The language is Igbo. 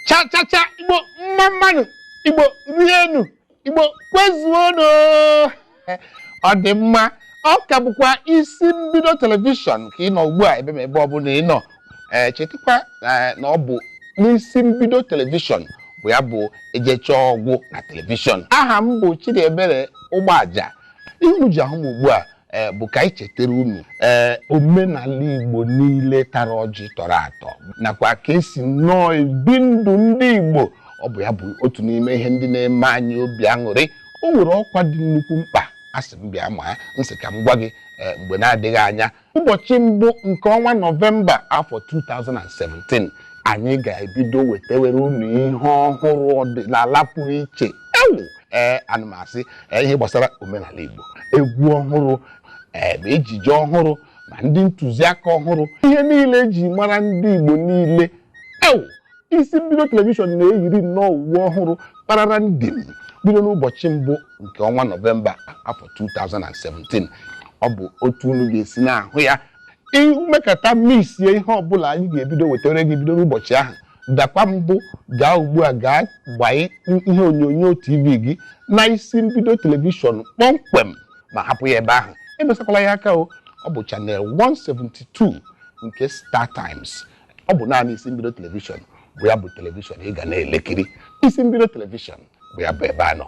cha cha cha igbo mma mma nụ igbo rienu igbo kwezuonu ọ dị mma ọ ka bụkwa isi mbido telivishọn ka ị nọ ugbu a ebe ma ebe ọbụla ị nọ ee chetakwa ee, na ọ bụ n'isi mbido telivishọn bụ ya bụ ejechaa ọ gwụ na telivishọn aha m bụ Chidiebere Ụgbọaja ihe unu ji ahụ m ugbu a e, bụ ka anyị chetara unu ee omenala Igbo niile tara ọjị tọrọ atọ nakwa ka esi nnọọ ebi ndụ ndị Igbo ọ bụ ya bụ otu n'ime ihe ndị na-eme anyị obi aṅụrị o nwere ọkwa dị nnukwu mkpa a sị m bịa maa m sị ka m gwa gị Eh, mgbe na-adịghị anya ụbọchị mbụ nke ọnwa nọvemba afọ 2017 anyị ga-ebido wetewere unu ihe ọhụrụ ọdịnala pụrụ iche ee ana m asị ee, ihe gbasara omenala igbo egwu ọhụrụ ee, ma ejije ọhụrụ ma ndị ntụziaka ọhụrụ ihe niile eji mara ndị igbo niile ee isi mbido telivishọn na-eyiri nnọọ uwe ọhụrụ kparara ndị m bido n'ụbọchị mbụ nke ọnwa nọvemba afọ 2017 ọ bụ otu unu ga-esi na-ahụ ya i mekata misie ihe ọbụla anyị ga-ebido wetara gị bido n'ụbọchị ahụ dakwa mbụ gaa ugbu a gaa gbanye ihe onyonyo tv gị na isi mbido telivishọn kpọmkwem ma hapụ ya ebe ahụ emesakwala ya aka o ọ bụ channel 172 nke star times ọ bụ naanị isi mbido telivishọn bụ ya bụ telivishọn ị ga na-elekiri isi mbido telivishọn bụ ya bụ ebe a nọ